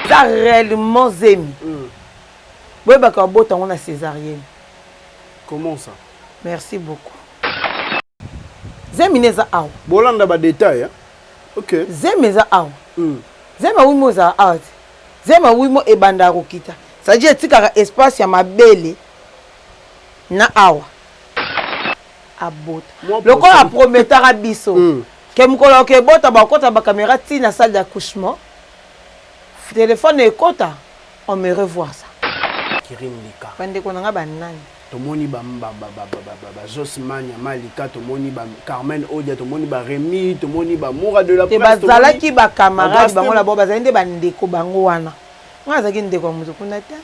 za réellement zemi mm. boyebaka babota yango na césarienne comment ça merci beaucoup zemi ne eza awa bolanda badetail hein? okay. zemi eza awa mm. zemi awimo ezala awa te zemi awimo ebanda ya kokita sadi etikaka espace ya mabele na awa abota lokola aprometaka biso mm. ke mokolo okebota bakota bakamera ntina salle d'accouchement Telephone ekota on me revoir ça. Kirim lika. Ba ndeko na nga ba nani? Tomoni ba ba Jos Manya Malika, tomoni ba Carmen Odia, tomoni ba Remy, tomoni ba Mura de la Presse. Te bazalaki ba camarades bango la bo bazali nde ba ndeko bango wana. Nga azalaki ndeko ya mutu kuna te.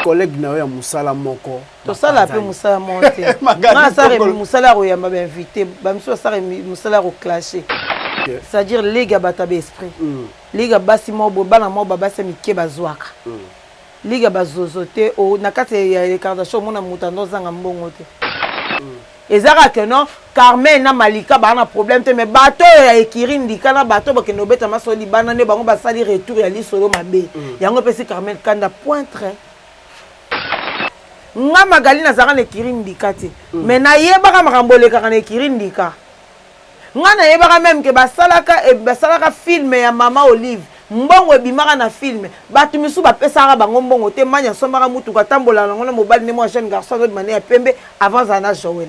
Collègue na yo ya musala moko. tosala mpe mosala moko te nga asala mosala ya koyamba bainvité bamisusu asala mosala ya koclashe c'est-à-dire ligue ya bato ya baesprit mm. ligue ya basi moko boye bana moko babasi ya mike bazwaka mm. ligue ya bazozo te na kati ya recardation omona moto ando ozanga mbongo te mm. eza kaka no carmen na malika baa na problème te mais bato oyo ya ekiri ndika na bato bakende obeta maso libanda nde bango basali retour ya lisolo mabe yango epesi carmen kanda pointre nga magali nazalaka na ekiri ndika te mm. me nayebaka makambo elekaka na ekiri ndika nga nayebaka meme ke basalaka eh, basalaka filme ya mama olive mbongo ebimaka na filme bato misusu bapesaka bango mbongo te mani asombaka motuka atambolaka nango na mobali nde mwa jeune garçon azobima ne ya pembe avant azala na joel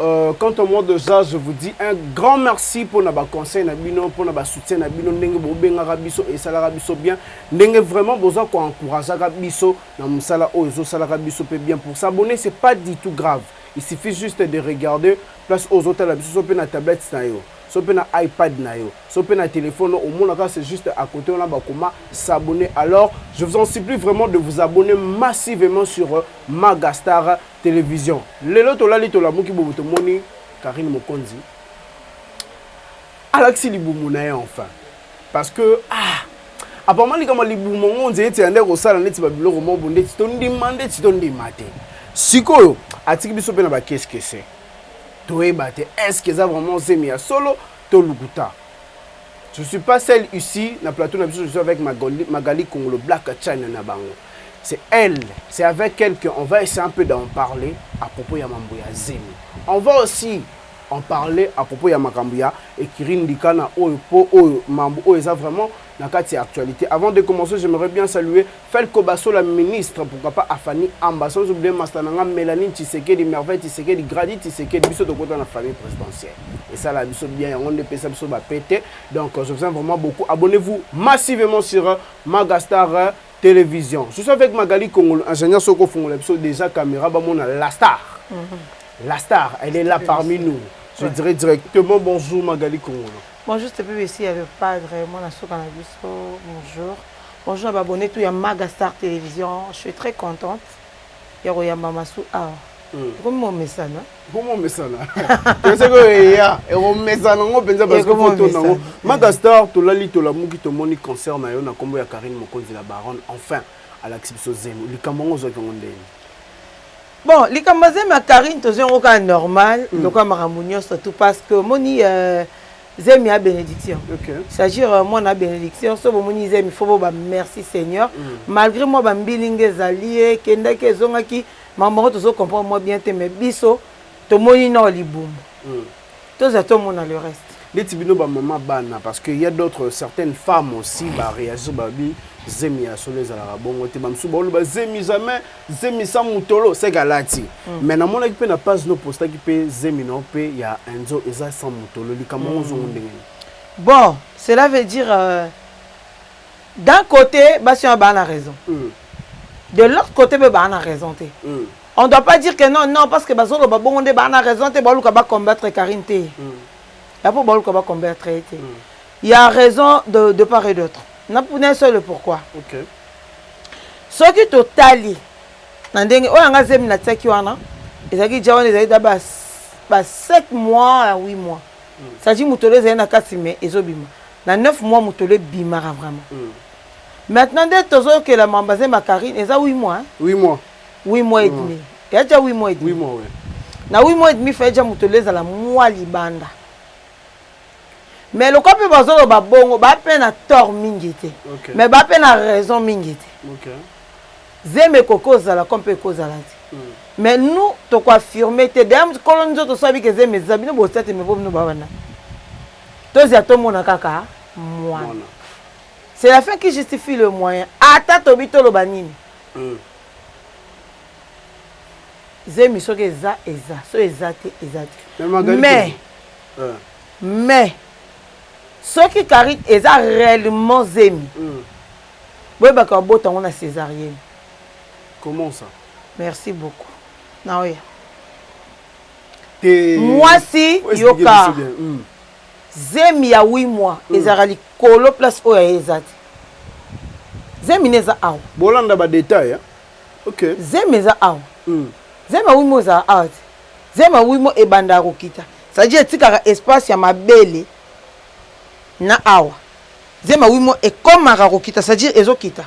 Euh, quant au mot de ça, je vous dis un grand merci pour na ba conseil na bino, pour na ba soutien na bino, ndenge bo bengaka biso et salaka biso bien, ndenge vraiment boza ko encourageaka biso na musala oyo zo salaka biso pe bien pour s'abonner, c'est pas du tout grave. Il suffit juste de regarder place ozo tala biso so pe na tablette na yo, so pe na iPad na yo, so pe na téléphone au monde là c'est juste à côté on a ba koma s'abonner. Alors, je vous en supplie vraiment de vous abonner massivement sur euh, Magastar Television lelo tolali tolamuki bobo tomoni Carine Mokonzi alakisi libumu na ye enfin parce que ah apama likambo ya libumu yango nzela ete yande kosala neti babiloko moko bo ndeti tondima ndeti tondima te sikoyo atiki biso mpe na bakeskese toyeba te estce eza vraiment zemi ya solo to lukuta Je suis pas seul ici na plateau na biso je suis avec Magali, Magali Kongolo Black China na bango. C'est elle, c'est avec elle qu'on va essayer un peu d'en parler à propos ya mambo ya zemi. On va aussi en parler à propos ya makambo ya Ekiri Ndikana oyo po oyo mambo oyo eza vraiment na kati ya actualité. Avant de commencer, j'aimerais bien saluer Felco Basola ministre pourquoi pas Afani Amba sans oublier masta na nga Melanie Tshisekedi Merveille Tshisekedi Grady Tshisekedi biso tokota na famille présidentielle esala biso bien yango nde pesa biso ba pete donc je vous aime vraiment beaucoup abonnez-vous massivement sur Magastar télévision je suis avec Magali Kongolo ingénieur soko fungola biso déjà caméra ba mona la star mhm. la star elle est là parmi nous je dirais directement bonjour Magali Kongolo bonjour c'était ici le padre mon asuka na biso bonjour Bonjour na ba abonne tout ya Maga Star Television, je suis très contente ya koyamba masu awa. Ekomi momesana. Ekomi momesana. Toseko eya, ekomesana ngo penza parce que faut tona ngo. Maga Star tolali tolamuki tomoni concert na yo na kombo ya Karine Mokonzi la Baronne enfin alakisi biso zemi. Likambo ngo ozwaki ngo ndenge. Bon, likambo zemi ya Karine tozwi yango kaka normal, mm. lokola makambo nyonso tout parce que omoni euh, zemi ya bénédiction okay. sagir euh, mwana ya bénédiction so bomoni zemi fo boba merci seigneur mm. malgré mwa bambilinga ezali ye ekendaki ezongaki makambo yango tozo comprendre mwa bien te mais biso tomoni nao libumu mm. tozala tomona le reste neti bino bamama bana parce que ya d'autres certaines femmes aussi bareagir babi zemi ya solo ezalaka bongo te bamosusu baoloba zemi jamais zemi sa mutolo seke alati mm. mais namonaki mpe na page no postaki mpe zemi na yo mpe ya enzo eza sa mutolo likambo yango ozongo mm. ndenge bon cela veut dire euh, d'un côté basi oyo baa na raison mm. de l'autre côté mpe baa na raison te mm. on doit pas dire que non non parce que bazoloba bongo nde baa na raison te baoluka bacombattre karine te mm. ya mpo baoluka bacombattre ye te mm. ya raison de, de part et d'autre napuna ye solo pourquoi okay. soki totali na ndenge oyo yanga zemi natiaki wana ezalaki ja wana ezalaki da ba 7 mois ya 8 mois sadi mm. motolo ezali na kati me ezobima na 9 mois motolo ebimaka vraiment mm. maintenant nde tozokela mamba zemi ya karine eza 8 mois 8 mois 8 mois et mm. demi ya ja 8 mois et demi na 8 mois et demi faye ja motolo ezala mwa libanda mais lokola mpe bazoloba bongo baa mpe na tort mingi te okay. mais baa mpe na raison mingi te okay. zemi ekoki kozala ko mpe ekozala te mm. mais nous tokoaffirme te daya kolo nzoto so abike zemi eza bino botia te mebo bino babana tozia tomona kaka mwana c'est la fin qui justifie le moyen ata tobi toloba nini mm. zemi soki eza eza so eza te eza te mais mais soki carine eza reellement zemi boyebaka babota yango na cesarienne comment ça merci beaucoup naoya mwasi yoka zemi ya 8 mois mm. ezalaka likolo place oyo aye eza te zemi na eza awa bolanda badetail ok zemi eza awa mm. zemi ya 8 mois ezalaka awa te Zema oui mo ebandaka kokita ça dit etikaka espace ya mabele na awa zema oui mo ekomaka kokita ça dit ezo kita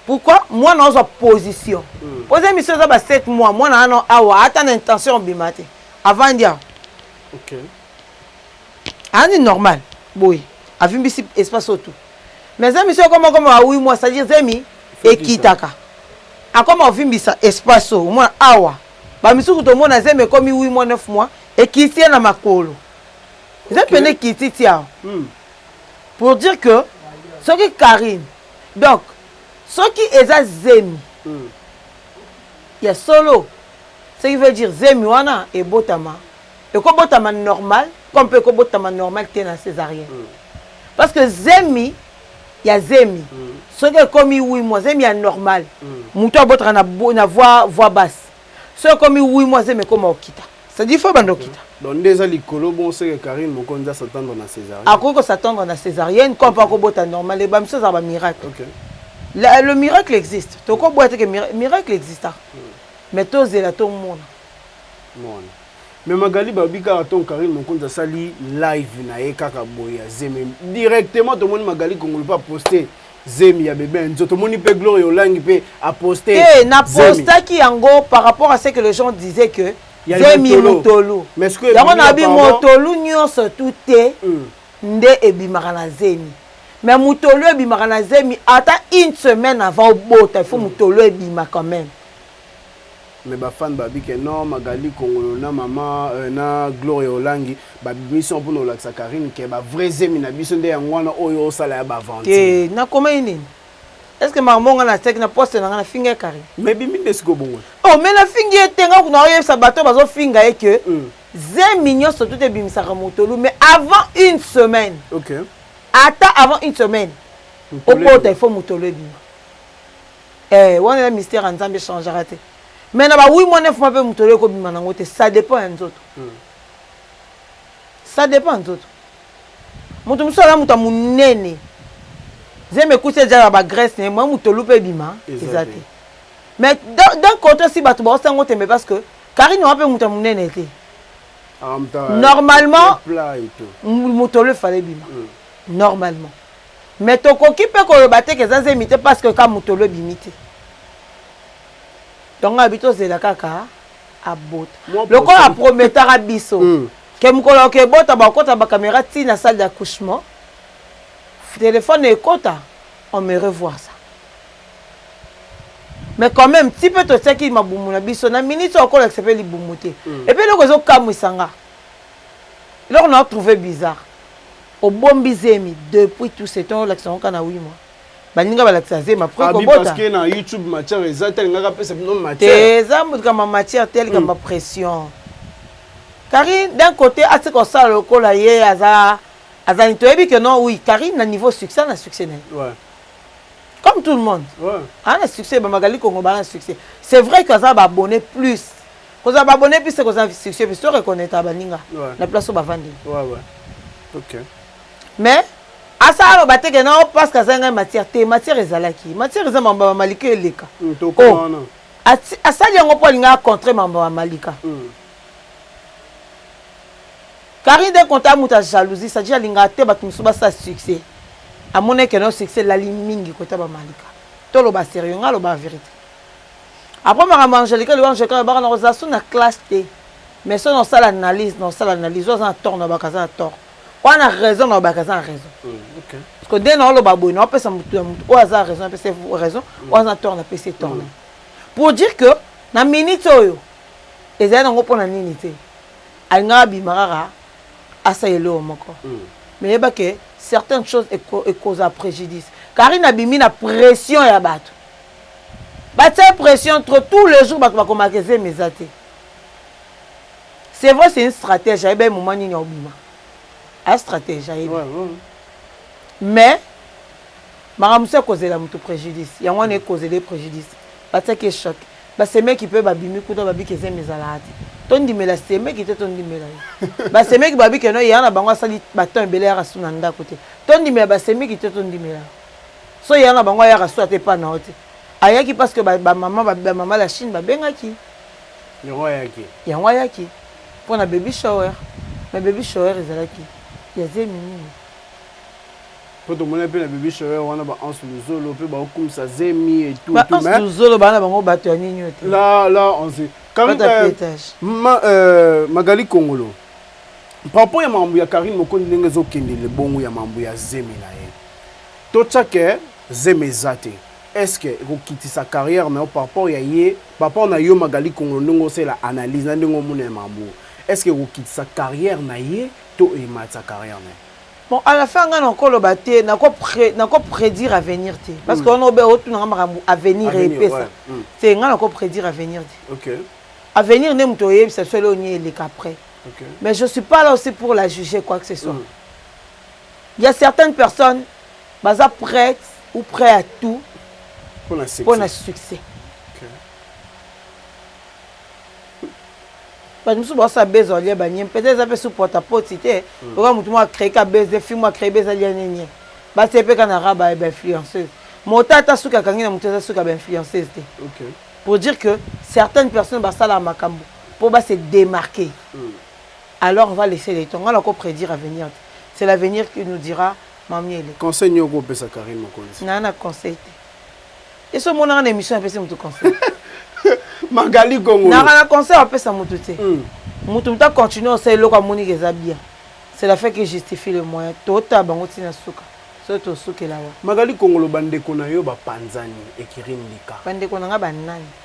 pourquoi mwana ozwa position poza emission eza ba 7 mois mwana wana awa ata na intention obima te avandi awa okay ani ah, normal boye avimbisi espace oyo tout mais zemi soki okoma okoma awi mwa c'est-à-dire zemi ekitaka akoma ovimbisa espace oyo omona awa Ba misusu tomona zemi ekomi 8 mois 9 mois ekiti ye na makolo. Eza pende ekiti ti awa. Hmm. Pour dire que soki Karine donc soki eza zemi hmm. ya solo ce qui veut dire zemi wana ebotama ekobotama normal comme mpe ekobotama normal te na césarienne hmm. parce que zemi ya zemi soki ekomi huit mois zemi ya normal moto abotaka na voix voix basse soki ekomi huit mois zemi ekoma okita c'est-à-dire faut banda okita donc nde eza likolo bon seke Karine Mokonzi a s'attendre na césarienne akoki ko s'attendre na césarienne comme pas kobota normal ba misusu ezalaka ba miracle okay. La, le miracle existe tokoboya te que miracle exista mais tozela tomona mona Mais Magali balobi kaka ton Carine Mokonzi asali live na ye kaka boye ya zemi. Directement tomoni Magali Kongolo pe aposte zemi ya bebe Enzo. Tomoni pe Gloria Olangi pe aposte zemi. Te na postaki yango par rapport à ce que les gens disaient que ya zemi motolo. motolu. Mais ce que Yango ebimi na bi apparemment motolu nyonso tu te Hmm. nde ebimaka na zemi. Mais motolu ebimaka na zemi ata une semaine avant obota il faut motolu ebima quand même. Mais ba fan babi que non Magali kongolo na maman euh, na Gloria Olangi ba bimisi yango pona olakisa Carine que ba vrai zemi na biso nde yango wana oyo osala ya ba aventure. Te na komaki nini? Est-ce que makambo nga na tiaki na poste na nga na finga ya Carine? Mais bimi nde siko bongo. Oh mais na fingi ye te nga kuna oyebisa bato bazo finga ye que mm. zemi nyonso tout ebimisaka motolu mais avant une semaine. Okay. Ata avant une semaine. Okota il faut motolu ebima. Eeh wana eza mystère ya nzambe echangeaka te mais na ba oui mois 9 mois pe mutu alobi kobima nango te ça depend ya nzoto ça depend ya nzoto mutu mosusu aza mutu ya munene zemi ekusi ejala na ba graisse naye moyen mutolu pe ebima eza te mais d'un cote osi batu baosi yango tembe parce que carine wana pe mutu ya munene te normalement mutolu efale ebima normalement Mais tokoki pe koloba te ke eza zemi te parce que ka mutolo ebimi te. Tongo alobi tozela kaka abota. Lokola a prometaka biso ke mukolo ako ebota bakokota ba camera ti na salle d'accouchement telephone ekota on me revoit ça. Mais quand meme ti pe totiaki mabumu na biso na minute oyo akolakisa pe libumu te. Et puis eloko ezo kamwisa nga eloko nao trouver bizarre. Obombi zemi depuis tout ce temps olakisa ngo kaka na huit mois. Baninga balakisa zemi après Abi kobota. parce que na YouTube matière eza te alingaka apesa bino Te matière. eza likambo ya matière te likambo ya pression. Carine d'un côté atika kosala lokola ye aza aza nini toyebi que non oui Carine na niveau succès aza na succès na ye. Ouais. Comme tout le monde. Ouais. aza na succès bamagali kongo baza na succès c'est vrai que aza na baabonné plus kozala ba abonne piste kozala succès piste to reconnaitre baninga na place oyo bavandi mais asa aloba te ke nao parce que azali ngai matière te matière ezalaki matière eza mambo ya malika eleka mm, oh. asali yango mpo alinga acontre mambo ya malika mm. carine de conta moto ya jalousie sadi alingaka te bato mosusu basala succès amonaki yango succès elali mingi kota bamalika toloba sérieux ngai aloba verité Après makambo ya Angelique Liwa Angelique alobaka na kozala so na classe te mais so na osala analyse na osala analyse oyo aza na tort na obaka aza na tort oyo aza na raison na obaka aza na raison parce que nde na oloba boye na opesa motu ya motu oyo aza na raison napesa raison oyo aza na tort napesa tort na pour dire que na minute oyo ezali nango mpo na nini te alingaka abima kaka asala eloko moko mais yeba ke certaines choses ekozala préjudice karine abimi na pression ya bato Batia pression trop tout le jour batu bakomaka ke zemi eza te. C'est vrai c'est une stratège ayebi ye moment nini aobima. A stratège ayebi. Mais makambo mosusu ekozela moto préjudice yango wana ekozela ye préjudice batiaki ye choc basemeki mpe babimi kuta babiki ezemi ezalaka te tondimela semeki te tondimela ye basemeki babiki no eya na bango asali baton ebele yaka su na ndako te tondimela basemeki te tondimela so yaya na bango ayaka so ata epa na yo te ayaki parce que bamama ba, ba, ba, la chine babengaki yango ayaki yango ayaki mpo na baby shower mais baby shower ezalaki ya zemi nini mpo tomona mpe na baby shower wana baanse luzolo mpe baokumisa zemi etubaanse luzolo bana bango bato ya nini ote la la onse comme euh, ma, euh, magali kongolo par rapport ya makambo ya karine mokondi ndenge ezokende lebongo ya makambo ya zemi na ye Totia que zemi eza te est-ce que ekokitisa carrière na yo par rapport ya ye par rapport na yo Magali Kongolo ndenge osala analyse na ndenge omona ya makambo oyo est-ce que ekokitisa carrière na ye to ematisa carrière na ye? Bon à la fin nga nako loba te nako nako predire avenir te parce que wana obe otuna nga makambo avenir epesa te nga nako predire avenir te. Okay. Avenir nde moto oyebisa biso eloko nini eleka après mais je suis pas là aussi pour la juger quoi que ce soit. Ya certaines personnes baza prete ou prêt à tout pona succès bato mosusu baosala beza olia banie peut-être eza mpe sous porte à porte te hmm. oka motu moko acree ka beza fi moko acree beza lia nini batie mpe ka na raba ya bainfluenceuse mota ata suki akangi na moto eza suki ya bainfluenceuse te pour dire que certaines personnes basalaka makambo mpo base démarquer hmm. Alors va laisser le temps nga nako predire avenir te c'est l'avenir qui nous dira ma miele. Conseil nini oko pesa Carine Mokonzi? Naza na conseil te. Esi omona nga na emission na pesi mutu conseil? Magali Gongolo. Naza na conseil a pesa mutu te. Hmm. Mutu mutu a continuer osala eloko amoni ke eza bien. C'est la fin qui justifie le moyen. To ta bango tina suka. So to sukela wa. Magali Gongolo ba ndeko na yo ba panzani ekiri ndika. Ba ndeko na nga ba nani?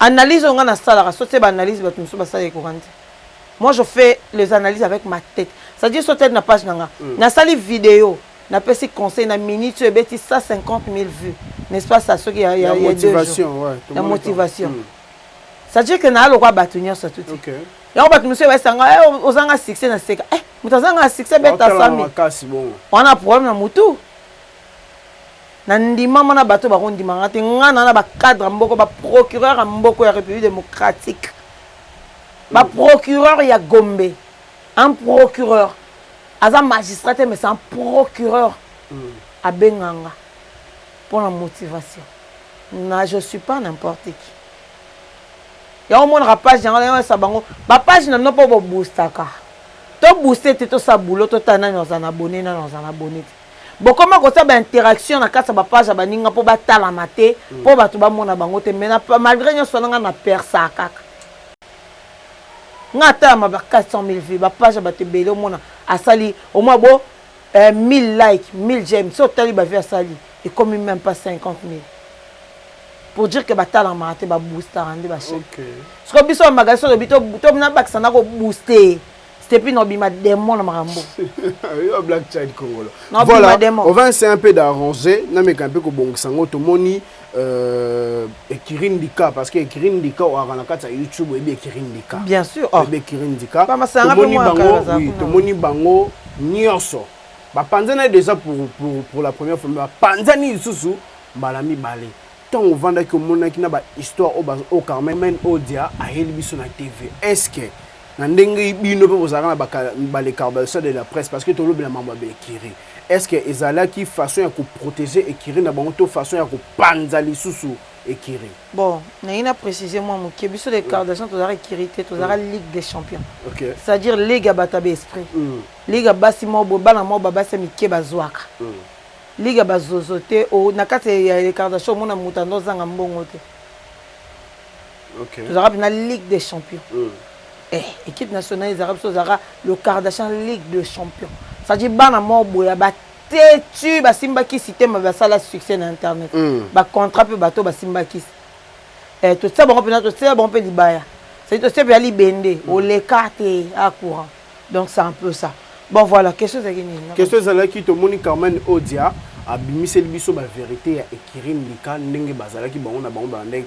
Analyse oyo nga na salaka sotie ba analyse batu misusu basala ekokante. Moi je fais les analyses avec ma tete. Ça dit sotie na page na nga. Mm. Na sali video na pesi conseil na minute oyo ebeti 150000 vues. N'est-ce pas ça soki ya ya motivation ouais. La motivation. Mm. Ça dit que na lokwa batu nyoso tuti. Okay. Yango batu misusu basanga eh ozanga succès na seka. Eh mutazanga succès beta 100000. Wana problème na mutu. Na ndimama na bato bako ndima nga te, nga na na ba cadre mboko ba procureur ya mboko ya republique democratique ba procureur ya gombe un procureur aza magistrat te mais c'est un procureur abenga nga pona motivation na je suis pas n'importe qui ya omonaka page yango na yesa bango ba page na bino mpo bo boustaka to bouste te tosa boulot totala nani aza na abonne nani aza na abonne te Bokoma kotia ba interaction na kati ya ba page ya baninga mpo batalama te mpo bato bamona bango te mais malgre nyonso wana ngai na persaa kaka ngai atalama ba 400 mille vues ba page ya bato ebele omona asali omwa bo 1000 like 1000 j'aime so otali ba vues asali ekomi meme pas 50 mille pour dire que batalamaka te baboostaka nde ba chaine sikoyo biso bamagali so olobi tobina bakisa na kobooste Stepi na obima demon na makambo. Yo black child congolo. Voilà, on va essayer un peu d'arranger, na meka un peu ko bongisa ngo tomoni euh Ekirin Dika parce que Ekirin Dika o arana kati ya YouTube et Ekirin Dika. Bien sûr. Oh. Ekirin Dika. Ba masanga pe moi bango, oui, tomoni bango nyonso. Ba panzana déjà pour pour pour la première fois, ba panzani lisusu mbala mibale. ntango ovandaki omonaki na bahistoire oyo carmen odia ayeli biso na tv est ce que na ndenge bino mpe bozalaka na ba les carbasseurs de la presse parce que tolobela mambo ya ba écurie est ce que ezalaki façon ya koprotéger écurie na bango to façon ya kopanza lisusu écurie bon naye na préciser mwa moke biso les cardasseurs tozalaka écurie te tozalaka mm. ligue des champions okay. c'est à dire ligue ya bato ya baesprit mm. ligue ya basi moko boye bana moko babasi ya mike bazwaka mm. ligue ya bazozo te na kati ya les cardasseurs omona moto ando ozanga mbongo te okay. tozalaka mpena ligue des champions mm. eh, équipe nationale ezalaka biso ozalaka le kardashian ligue de champion cetadi bana moko boya batetu basimbaki sitema basala succès na internet mm. bacontrat mpe bato basimbakisi eh, totia bango mpena totia bango mpe libaya cetadi totia mpe ya libende mm. oleka te a courant donc c'est un peu ça bon voilà question ezalaki nini question ezalaki tomoni carmen odia abimiseli biso bavérité ya ekirine lika ndenge bazalaki bango na bango balandaki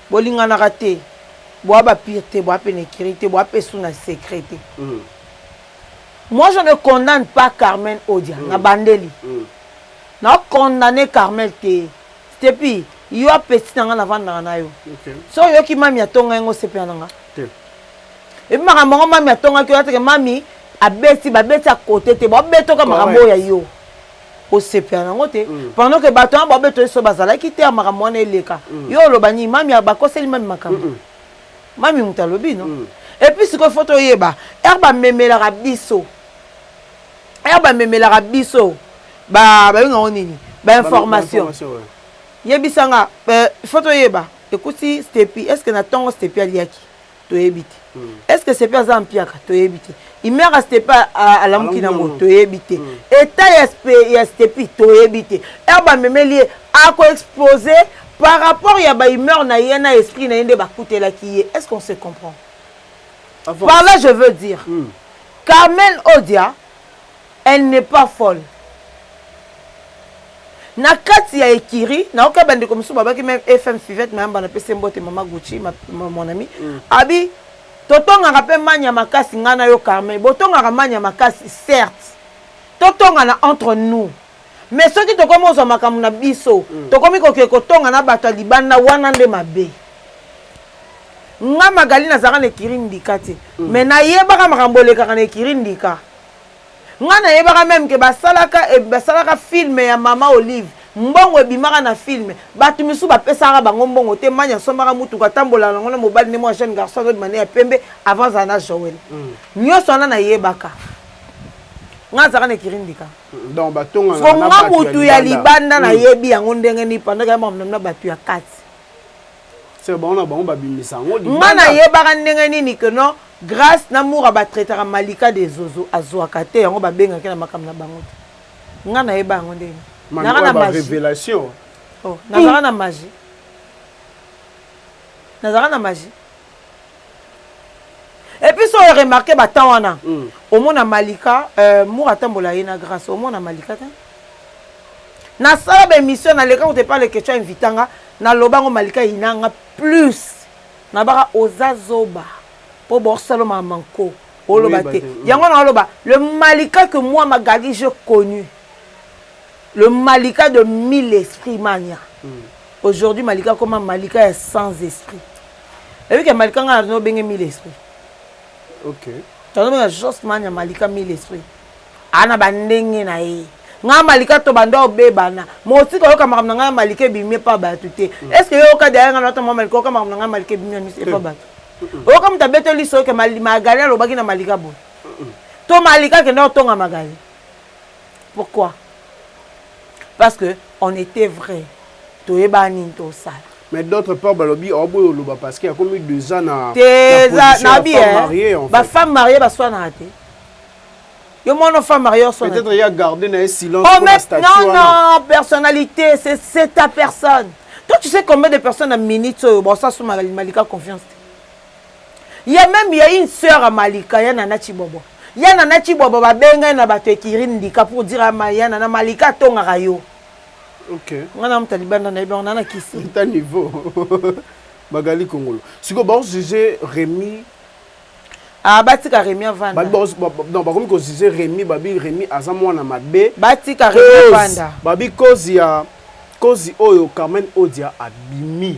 Bolinganaka te boa ba pire te boa pene ecurie te boa pe su na secret te moi je ne condamne pas carmen odia na bandeli na condamne carmel te stepi yo apeti na nga na vandaka na yo so oyoki mami atonga yango osepela na nga epi makambo yango mami atongaki oyo ateke mami abeti babeti ya kote te babetoka makambo oyo ya yo osepela nango te mm. pendant que bato wana babeto eso bazalaki te ya makambo wana eleka mm. yo oloba nini mami bakoseli mami makambo mm -mm. mami moto alobi no mm. epuis sikoyo fo toyeba ere bamemelaka biso ere bamemelaka biso babengango nini bainformation ba ouais. yebisa nga euh, fo toyeba ekuti stepi est ce que na ntongo stepi aliaki toyebi te mm. est ce que sepe aza mpiaka toyebi te imeaka stepe alamuki nango toyebi te mm. eta ya stepi toyebi te ere bamemeli ye akoexpose par rapport ya baimeur na ye na esprit na ye nde bakutelaki ye est ce qu'on se comprend Avant. par là je veux dire mm. carmen odia Elle n'est pas folle na kati ya ecurie nayoki ya bandeko mosusu babaki meme FM Fivette Mayamba na pese mbote mama Gucci ma, ma, mon ami mm. abi totongaka mpe mania makasi ngai na yo Carmen botongaka mania makasi certes totongana entre nous me soki tokomi ozwa makambo na biso mm. tokomi kokee kotonga na bato ya libanda wana nde mabe nga magali nazalaka na ekiri ndika te mm. me nayebaka makambo elekaka na ekiri ndika Nga na yebaka meme que ba salaka ba salaka film ya maman olive mbongo ebimaka na film batu misusu ba pesaka bango mbongo te many asombaka mutuka atambolaka nango na mobali nde mua jeune garçon azo bima nde ya pembe avant azala na joel nioso wana na yebaka nga azalaka na ekiri ndika siko nga mutu ya libanda na yebi yango ndenge ni pendant que ya mamnam na batu ya kati Sœur bango na bango ba bimisa yango libanda. Nga na yebaka ndenge nini que non Grace na Mura ba traitaka Malika de zozo azuaka te yango ba bengaka ye na makambo na bango te. Nga na yeba yango ndenge nini? Nazalaka na magie. Revelation. Oh, nazalaka na magie. Nazalaka na magie. epuis so remarke ba temps wana mm. omona malika euh, mura atambola ye na grace omona malika te nasala baémission naleka kutu epa leketio ainvita nga naloba yango malika yina nga plus nabaka oza zoba mpo borsalo mamanko oloba te mm. yango na oloba le malika que moi magali je connu le malika de mille esprit mania mm. aujourd'hui malika akoma malika ya sans esprit Ebi ke malika nga no benge mille esprit. OK. Tano benga Jos man ya malika mille esprit. Ana ba ndenge na ye. Nga malika to banda obebana. Mosi ko yoka makambo na nga malika ebimi pa batu te. Mm. Est-ce que yo ka derrière nga na to malika yoka makambo na nga malika ebimi na miso pa mm. batu. Oyoka moto abeteli soki Magali alobaki na malika boye. To malika akenda kotonga Magali. Pourquoi? Parce que on etait vrai. Toyeba nini tosala. Mais d'autre part balobi oh boyo loba parce que akomi deux ans na te za na bi eh ba femme mariée ba swa na te yo mon femme mariée on swa peut-être il a gardé na silence oh, mais, non non personnalité c'est c'est ta personne toi tu sais combien de personnes à minutes oyo bon ça sous malika confiance Ya meme ya une soeur ya malika ya nana tshibobo ya nana tshibobo ba benga ye na batu ya ecurie ndika pour dire ya nana malika atongaka yo okay nga na muta libanda na yebango nana kisi ta niveau magali kongolo siko ba juger remi ah batika remi avanda non bakomi ko juger remi babi remi aza mwana mabe batika remi avanda babi cause ya cause oyo carmen odia abimi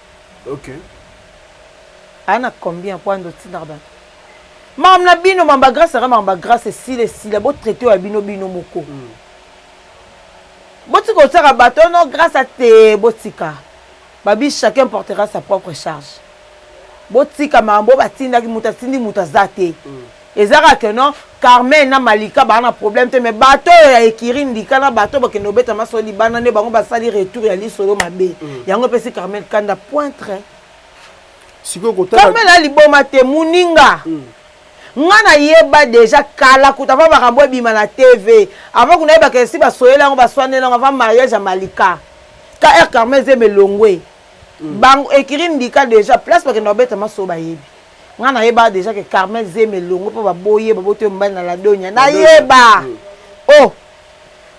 Aya na combien po ando otindaka batu makambo na bino makambo ya grace aka makambo ya grace esila esila bo traite oyo ya bino bino moko botika kotiaka bato ono grace ate botika babi chacun portera sa propre charge botika makambo oyo batindaki moto atindi moto aza te eza kaka que non carmen na malika baa na problème te mais bato oyo ya ekiri ndika na bato bakende kobeta maso libanda nde bango basali retour ya lisolo mabe mm. yango epesi carmen kanda pointre carmen na liboma te moninga mm. nga nayeba deja kala kuta ava makambo ebima na tv ava kuna yebaka esi basoyeli yango baswaneli yango ava mariage ya malika kr carmen zeme elongwe mm. bango ekiri ndika deja place bakende kobeta maso bayebi nga na yeba dejà que Carmel zemi elongo po ba boyi ye ba boti mobali na la donia na yeba oh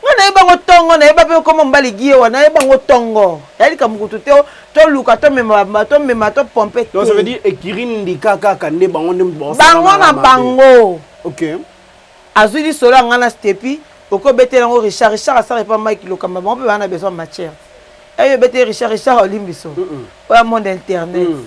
nga na yeba ngo tongo na yeba pe komo mobali gie wa na yeba ngo tongo ya lika mukutu te oh. to luka to mema ba to mema to pompe te donc ça veut dire ekirine ndika kaka nde bango nde bon bango na bango ok azui di solo nga na stepi oko betela ngo richard richard asara epa mike lokamba bango pe ba na besoin matière ayo eh, betela richard richard olimbiso oya monde internet mm.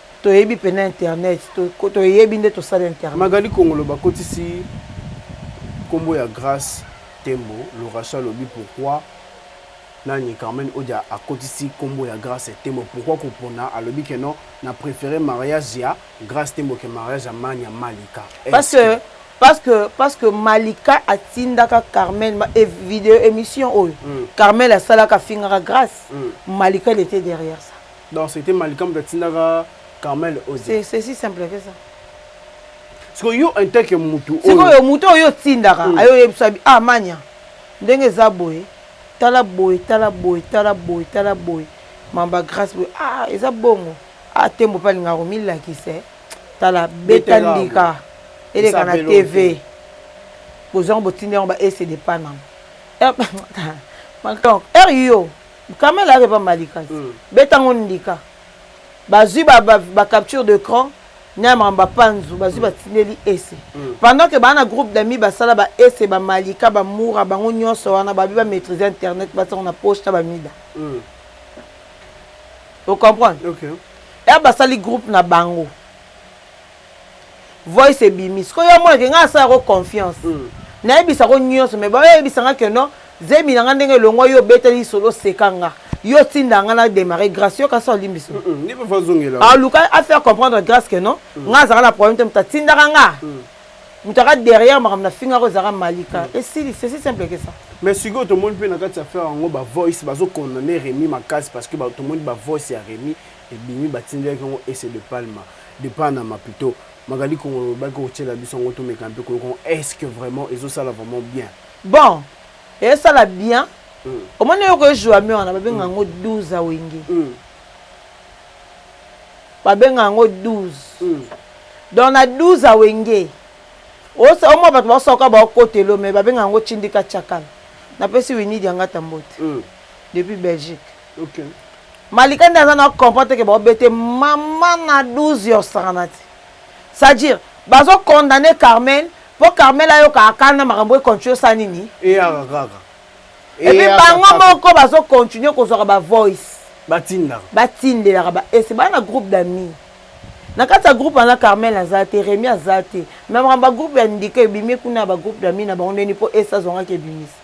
Toyebi pena internet toyebi nde tosali internet. Magali kongolo bakotisi kombo ya grace tembo lorache alobi pourquoi nani carmen odia akotisi kombo ya grace tembo pourquoi kopona alobi que non na prefere mariage ya grace tembo que mariage ya mania malika parce que parce que parce que malika atindaka carmen et video émission oyo mm. carmen asalaka afingaka grace mm. malika il était derrière ça Donc c'etait Malika moto atindaka Carmel Oze. C'est c'est si simple que ça. Siko yo en tant que mutu oyo. Siko yo mutu oyo tindaka mm. ayo yebisa bi ah manya. Ndenge za boye tala boye tala boye tala boye tala boye mamba grâce boye ah eza bongo ah tembo pa linga ko milakisa eh. tala beta ndika eleka na TV. Bozango botindi yango ba ese de panam. Eh, donc heure yo Kamel ayaka epa malika te beta ngo ndika bazui ba capture de cran na makambo ba panzu bazui batindeli ese pendant que ba na groupe d'amis basala ba ese ba malika ba mura bango nionso wana babi ba maitrise internet batia ngo na poche na ba mida o comprendre heure basali groupe na bango voice ebimi sikoyo yo amonake ngai asala yango confiance nayebisa yango nyonso mais baoyo ayebisa ngai que non zemi na ngai ndenge elongwa yo obeteli lisolo oseka nga yo otinda ngai na demarre grace yoka so olimbi so aluka afaire comprendre grace que non ngai azalaka na problème te moto atindaka nga moto aka derrière makambo nafingaka ezalaka malika esili c'est si simple que ça mais sikoyo tomoni mpe na kati ya affaire yango bavoice bazokondane remi makasi parce que tomoni bavoice ya remi Ebimi batindelaki yango Ese de Palma de Panama plutot Magali Kongolo olobaki okotiela biso yango tomeka mpe koyoka yango est ce que vraiment ezo sala vraiment bien? Bon ezo sala bien omoni eloko e joue ame wana babenga yango 12 a wenge babenga yango 12 donc na 12 a wenge omwa bato basoka baokota elo me babenga yango tindika tshakala napesi Winnie Diangata mbote depuis Belgique. Malika nde aza na comprendre te que bao bete maman na 12 ya osakana te. C'est à dire bazo condamner Carmel po Carmel ayoka akana makambo e continue osala nini? Eyaka kaka. Et puis bango moko bazo continuer kozwaka ba voice. Batindaka. Batindelaka ba ese ba na groupe d'amis. Na kati ya groupe wana Carmel aza te, Remy aza te. Mais makambo ba groupe ya ndika ebimi kuna ya ba groupe d'amis na bango ndeni po ese azwangaki ebimisa.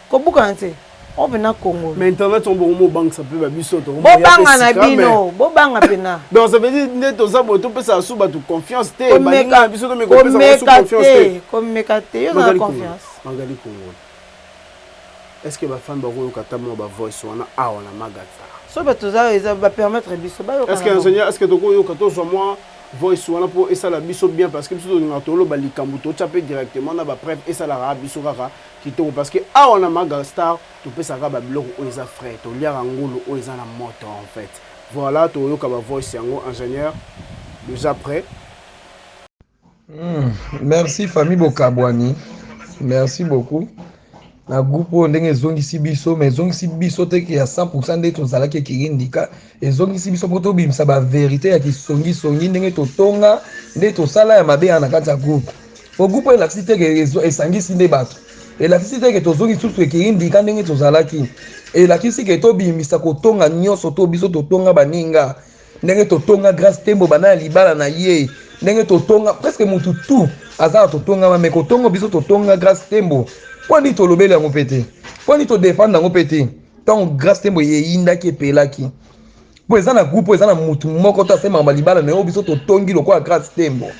Kobukana te. Ope na Congo. Mais internet on bongo bobangisa pe ba biso to. Bobanga na bino, bobanga pena. Donc ça veut dire nde toza boye topesa asu bato confiance te. Baninga na biso tomeka kopesa basu confiance te. Komeka te, yo na confiance. Magali Congo. Est-ce que bafani bakoyoka ata mwa bavoice wana awa na magata so bato oza eza bapermettre biso bayokaestce ingénieur estce tokoyoka tozwa mwa voice wana mpo esala biso bien parce que biso tolingaka toloba likambo totya mpe directement na bapreuve esalaka biso kaka Kitoko parce que awa na maga star topesa ka ba biloko oyo eza frais toliaka ngulu oyo eza na moto en fait voilà toyoka ba voice yango ingénieur dejà près Hmm, merci famille Bokabwani. Merci beaucoup. Na groupe oyo ndenge ezongisi biso, mais ezongisi biso te ke ya 100% nde tozalaki ekirindika Ezongisi biso mpo tobimisa ba verite ya kisongi songi ndenge totonga nde tosala ya mabe na kati ya groupe. Po groupe elakisi te ke esangisi nde bato. Elakisi te ke tozongi lisusu ekirindika ndenge tozalaki. Elakisi ke tobimisa kotonga nionso to biso totonga baninga. Ndenge totonga Grace Tembo banda ya libala na ye. Ndenge totonga presque mutu tout aza na totongama mais kotongo biso totonga Grace Tembo. Pwani tolobeli yango pe te. Pwani to defendre yango pe te. ntango grace tembo eyindaki epelaki mpo eza na groupe eza na motu moko to asemaka balibala na yo biso totongi lokola grace tembo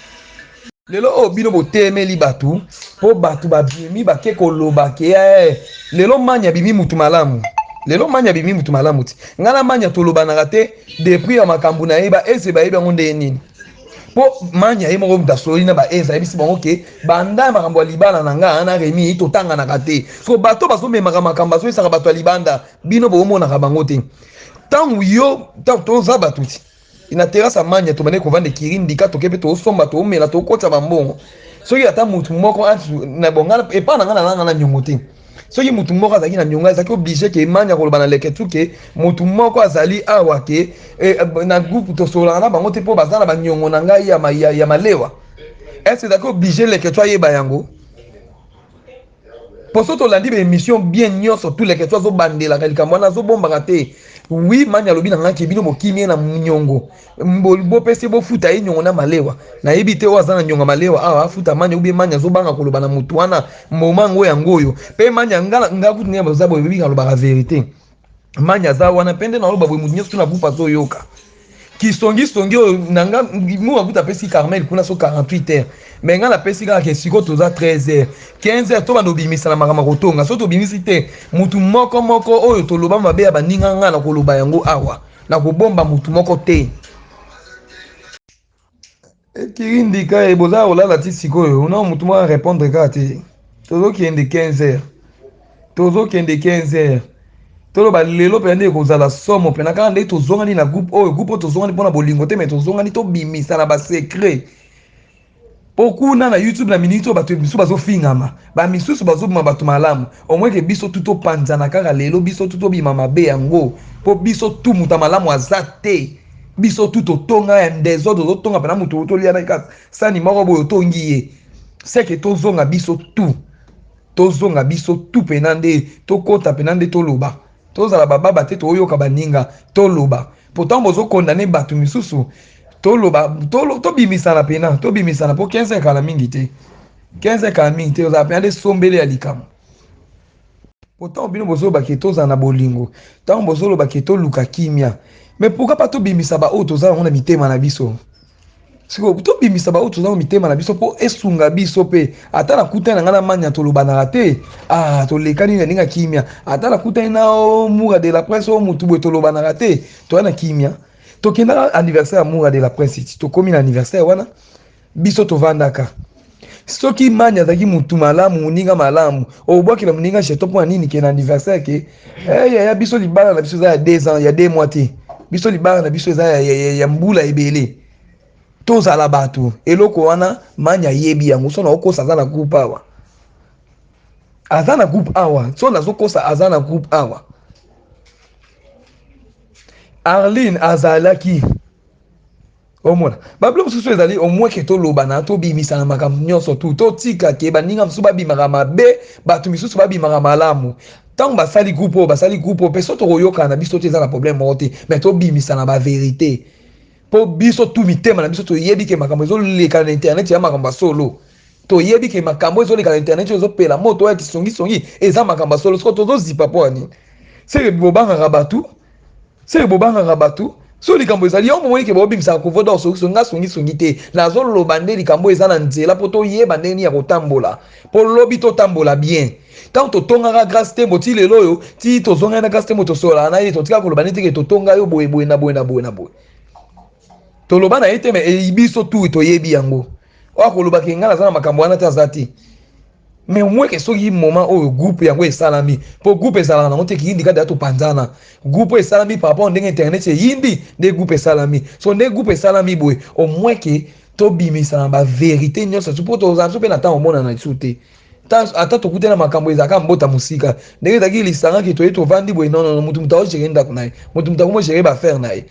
lelo oyo bino botemeli bato mpo bato babimi bake koloba ke eh, lelo mani abimi motu malamu lelo mani abimi motu malamu ti ngai na mani tolobanaka te depuis ya makambo na yeba eze bayebi yango ndenge nini po manya ye moko mutu asololi na ba ez ayebisi bango ke banda ya makambo ya libala na nga na remi totanganaka te so bato bazomemaka makambo bazoyisaka bato ya libanda bino bomonaka bango te ntango yo ntango toza bato ti na terase ya manya tobandi kovanda ekiri ndika toke mpe tosomba tomela tokotisa bambongo soki ata motu moko na bonga epai na nga nalanga na nyongo te soki mutu moko azalaki na nionga ezalaki oblige ke emani akoloba na leketsu ke mutu moko azali awa ke eh, na groupe tosololaka na bango te mpo baza na baniongo na ngai ya, ma, ya, ya malewa est-ce ezalaki oblige leketsu ayeba yango mpo so tolandi baémission bien nyonso tu leketsu azobandelaka likambo wana azobombaka te wi mani alobi na ngai ke bino bokimi ye na niongo Bo pesi bo futa ye nyongo na malewa. Na yebi te oyo aza na nyonga malewa awa afuta manya ou bien manya azo banga ko loba na mutu wana mboma ngo ya ngoyo. Pe manya nga nga kutu ne baza boye bika loba ka verite. Manya aza wana pe nde na loba boye mutu nyoso tuna bupa zo yoka. Ki songi songi oyo na nga mu ba kuta pesi Carmel kuna so 48 heures. Mais nga na pesi kaka ke siko toza 13 heures 15 heures to bando bimisa na makama ko tonga so to bimisi te mutu moko moko oyo to loba mabe ya baninga nga na ko loba yango awa. nakobomba motu moko te ekiri ndika ye boza kolala ti sikoyo na motu moko arépondre kaka te tozokende 15 heures tozokende 15 heures toloba lelo mpenza nde ekozala somo mpena kaka nde tozongani na groupe oyo groupe oyo tozongani mpo na bolingo te mai tozongani tobimisa na basecret po kuna na youtube na minute oyo bato misusu bazofingama ba misusu bazobima bato malamu omweke biso tu topanzana kaka lelo biso tu tobima mabe yango po biso tu moto ya malamu aza te biso tu totonga ya desordre ozotonga mpena moto oyo tolia na kaka sani moko boye otongi ye seke tozonga biso tu tozonga biso tu mpena nde tokota mpena nde toloba Tozala ba baba te toyoka baninga toloba pourtant bozo condamner batu misusu toloba tobimisana pena tobimisana po 15 ekala mingi te 15 ekala mingi te ozala pena nde sombele ya likambo pourtant bino bozoloba ke tozala na bolingo ntango bozoloba ke toluka kimia mais pourquoi pas tobimisa baoyo tozala yango na mitema na biso sikoyo tobimisa baoyo toza na mitema na biso mpo esunga biso mpe ata nakutani na ngai na mania tolobanaka te ah, tolekani na ndenge kimia ata nakutani na oh, mura de la prince oyo oh, motu boye tolobanaka te toya na kimia tokendaka anniversaire ya mura de la prince tokomi na anniversaire wana biso tovandaka soki imani azalaki mutu malamu moninga malamu obwakela moninga jeto mpo na nini ke na anniversaire ke eh, yaya biso libala na biso eza ya deux ans ya deux mois te biso libala na biso eza ya, ya, ya, ya mbula ebele tozala bato eloko wana mani ayebi yango so naokosa aza na groupe awa aza na groupe awa so nazokosa aza na groupe awa arline azalaki Omona babilo mosusu ezali omwe ke tolobana tobimisana makambo nyonso tu totika ke baninga mosusu babimaka mabe bato misusu babimaka malamu ntango basali groupe oyo basali groupe oyo mpe so tokoyokana na biso te eza na problème moko te mais tobimisana baverité mpo biso tu mitema na biso toyebi ke makambo ezoleka na internet ya makambo ya solo toyebi ke makambo ezoleka na internet oyo ezopela moto oyo ya kisongisongi eza makambo ya solo soko tozozipa mpo ya nini seke bobangaka bato seke bobangaka bato so likambo ezali yango bomoni ke baobimisaka couvre d'or songiso nga songisongi te nazoloba nde likambo eza na nzela mpo toyeba ndenge nini ya kotambola mpo lobi totambola bien ntango totongaka grace tembo ti lelo oyo ti tozongaki na grace tembo tosololaka na ye totika koloba nde teke totonga yo boye boye na boye na boye na boye toloba na ye te me eyi biso tu toyebi yango oyo akolobaka engai naza na makambo wana te aza te mais au moins ke soki moment oyo groupe yango esalami mpo groupe ezalaka nango te kiyindi kaka deya topanzana groupe oyo esalami par rapport ndenge internet eyindi nde groupe esalami so nde groupe esalami boye au moins ke tobimisa na baverité nyonso tu mpo tozala biso mpe na ntango omonana lisusu te ata tokutana makambo ezalaka mbota mosika ndenge ezalaki lisangaki toye tovandi boye nonono motu motu aogere ndako na ye motu motu akomogere baaffaire na ye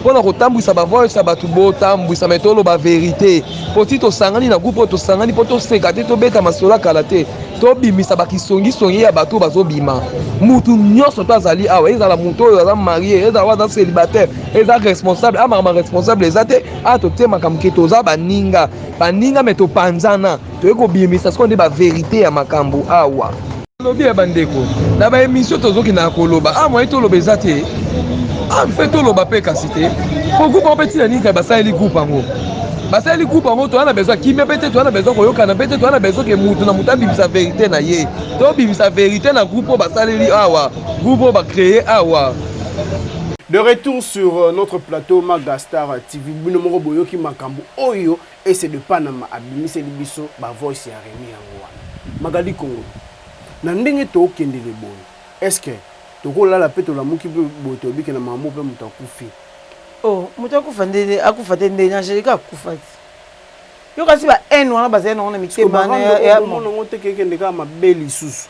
mpo na kotambwisa bavoice ya bato botambwisa me toloba verite mpo ti tosangani na groupe oyo tosangani mpo toseka te tobeta masolo ya kala te tobimisa bakisongisongi ya bato bazobima mutu nyonso to azali awa ezala moto oyo aza marie ezala oyo aza célibataire eza responsable amakama responsable eza te a totie makambo ke toza baninga baninga me topanzana toyei kobimisa sikoyo nde baverite ya makambo awa Lobi ya bandeko na ba emission tozokendaka koloba a ah, moye toloba eza te a ah, mpe toloba mpe kasi te po groupe yango mpe ntina nini kaka basaleli groupe yango basaleli groupe yango toza na besoin kimia mpe te toza na besoin koyokana mpe te toza na besoin ke motu na motu abimisa verité na ye tobimisa verité na groupe oyo basaleli awa groupe oyo bacreye awa De retour sur euh, notre plateau Magastar TV. Bino moko boyoki makambo oyo Ese de Panama abimiseli biso ba voice ya Remy yango wana. Magali Kongo na ndenge too kendele boye est ce que toko lala pe tolamuki pe boye toyebi ke na Mambo pe mutu akufi? Oh mutu akufa nde akufa te nde Angelica akufa te yo kasi ba haine wana bazali nango na mitema wana ya Sikoyo Marando oyo komona ngo te ke ekende kaka mabe lisusu?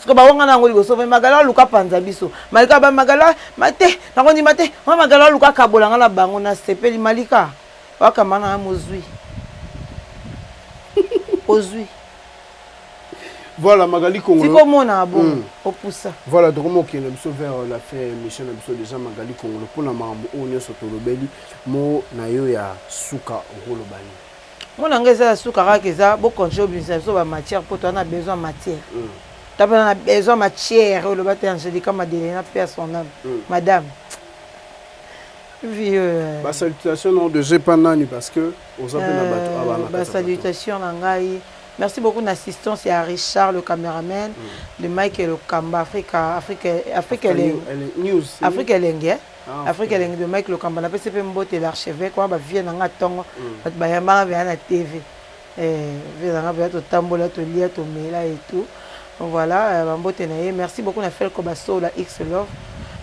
Siko ba wanga nango liboso mais magala luka panza biso. Malika ba magala mate nango ni mate. Wa magala luka kabola ngana bango na sepeli malika. Wa kamana na mozui. Ozui. Voilà Magali Kongolo. Siko mona bon mm. opusa. Voilà donc mo kende biso vers euh, la fin émission na biso déjà Magali Kongolo pona mambo oyo nyoso tolobeli mo na yo ya suka okoloba nini? Mwana nga eza ya suka kaka eza bo continuer obimisa biso ba matière po toza na besoin ya matière toza pena na besoin ya matière oloba te angelica madelena paix à son ame madame vieux ba salutation na yo dejà epa nani parce que oza pe na batu awa na ba salutation na ngai merci beaucoup na assistance ya Richard le cameraman de Mike Lokamba Africa Africa Africa Africa News Africa Elengi Afrique elengi de Mike Lokamba napesi pe mbote l'archeveque wana ba vieux na nga tongo batu bayambaka veya na TV eh, vieux na nga veya totambola tolia tomela et tout voilà euh, ba mbote na ye merci beaucoup na Felco Basola X Love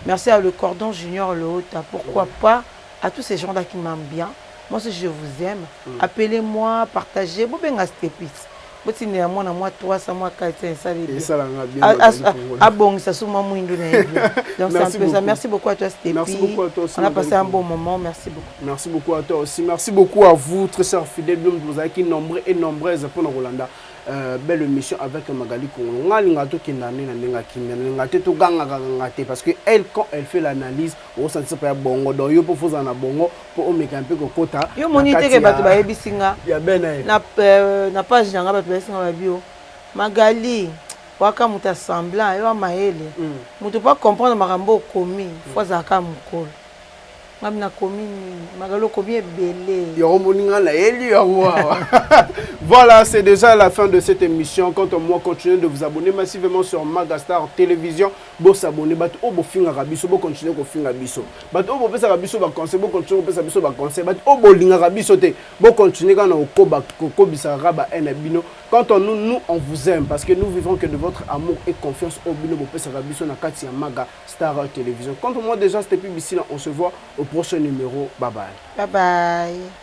merci à le cordon junior Loota pourquoi pas à tous ces gens là qui m'aiment bien Moi si je vous aime appelez moi partager bo benga stepis bo tindela mwana mwa 300 mwa 400 esali bien esala nga bien a, a, a, a bongisa sous mwa mwindu na ye bien donc c'est un peu ça merci beaucoup à toi stepis merci beaucoup à toi aussi on a passé un bon moment merci beaucoup merci beaucoup à toi aussi merci beaucoup à vous très chers fidèles bien vous avez qui nombreux et nombreuses pour nous Rolanda Euh, belle émission avec Magali Kongo. Nga linga to kendane na ndenge akimia, linga te to ganga ganga te parce que elle quand elle fait l'analyse, osantisa mpe ya bongo donc yo mpo fozala na bongo mpo omekana mpe kokota yo moni teke bato bayebisi nga ya bena ye na euh, page na nga bato bayebisi nga babio magali waka moto assemblant yo amayele hmm. moto mpo acomprendre makambo okomi hmm. fo azalaka mokolo nga mina komi nini magali okomi ebele yango moni nga nayeli yango awa voilà c'est déjà la fin de cette émission quant à moi continuez de vous abonner massivement sur magastar télévision Bo s'abonner batu oyo bofingaka biso bo continuer kofinga biso batu oyo bopesaka biso ba conseil bo continuer kopesa biso ba conseil batu oyo bolingaka biso te bo continuer kaka na kokoba kokobisaka kaka ba haine na bino quand on nous nous on vous aime parce que nous vivons que de votre amour et confiance oyo bino bopesaka biso na kati ya maga star television contre moi déjà c'était pi bisina on se voit au prochain numero bye bye Bye bye.